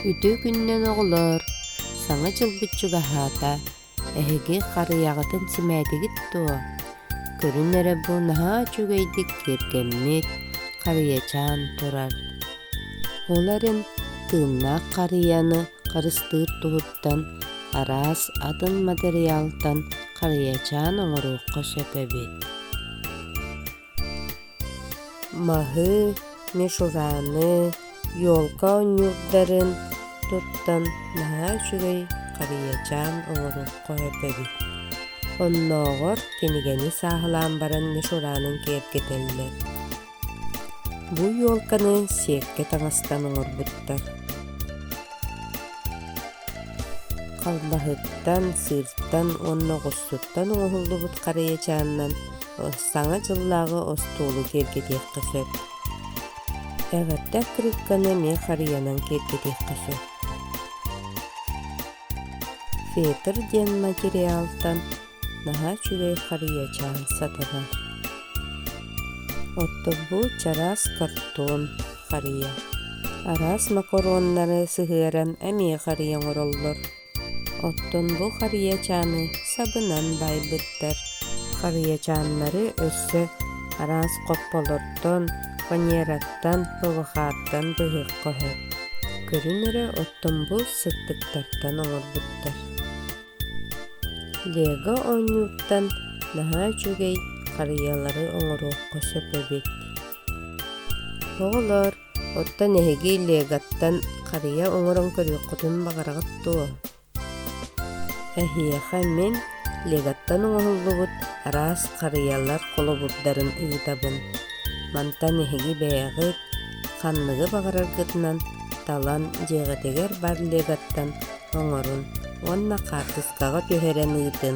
Үтүө күнүнэн оҕолоор! Саҥа дьылбыт чугаһаата. Эһиги харыйаҕытын симээтигит дуо? Көрүн эрэ бу наһаа үчүгэйдик киэргэммит, харыйачаан турар. Ол эрэн тыыннаах харыйаны харыстыыр туһуттан араас атын матырыйаалтан харыйачаан оҥоруохха сөп эбит. Маһы, Мишураны, Ёлка оонньуурдарын туттан наһаа үчүгэй харыйачаан оҥорорго эбэбит. Оннооҕор кинигэни сааһылаан баран Мишуранын киэргэтэллэр. Бу ёлканы сиэккэ таҥастан оҥорбуттар. Халлаһыттан, сыыртан уонна оҕустуттан оҥоһуллубут харыйачааннан Саҥа дьыллааҕы остуолу киэргэтиэххэ сөп. Эҕэрдэ крикканы эмиэ харыйанан киэргэтиэххэ сөп. Фетр диэн материалтан наһаа үчүгэй харыйачаан сатанар. Оттогбут чараас картон харыйа. Араас макароннары сыһыаран эмиэ харыйа оҥороллор. Оттон бу харыйачааны сабынан баайбыттар. Харыйачааннары өссө араас хопполортон, фанераттан, ылҕааттан быһыырҕаһа. Көрүн эрэ оттон бу сыттыктартан оҥорбуттар. Лего оонньууттан наһаа үчүгэй харыйалары оҥоруохха сөп эбит. Оҕолор, Оттон эһиги Легаттан харыйа оҥорон көрүөххүтүн баҕараҕыт дуо? Эһиэхэ мин Легаттан оҥоһуллубут араас харыйалар холобурдарын ыытабын. Мантан эһиги бэйэҕит ханныгы баҕараргытынан талан дьиэҕитигэр бар Легаттан оҥорун уонна хаартыскаҕа түһэрэн ыытыҥ.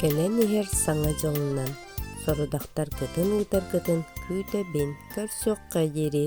Кэлэн иһэр Саҥа дьылынан сорудахтар кытын ыытаргытын күүтэбин, көрсүөххэ диэри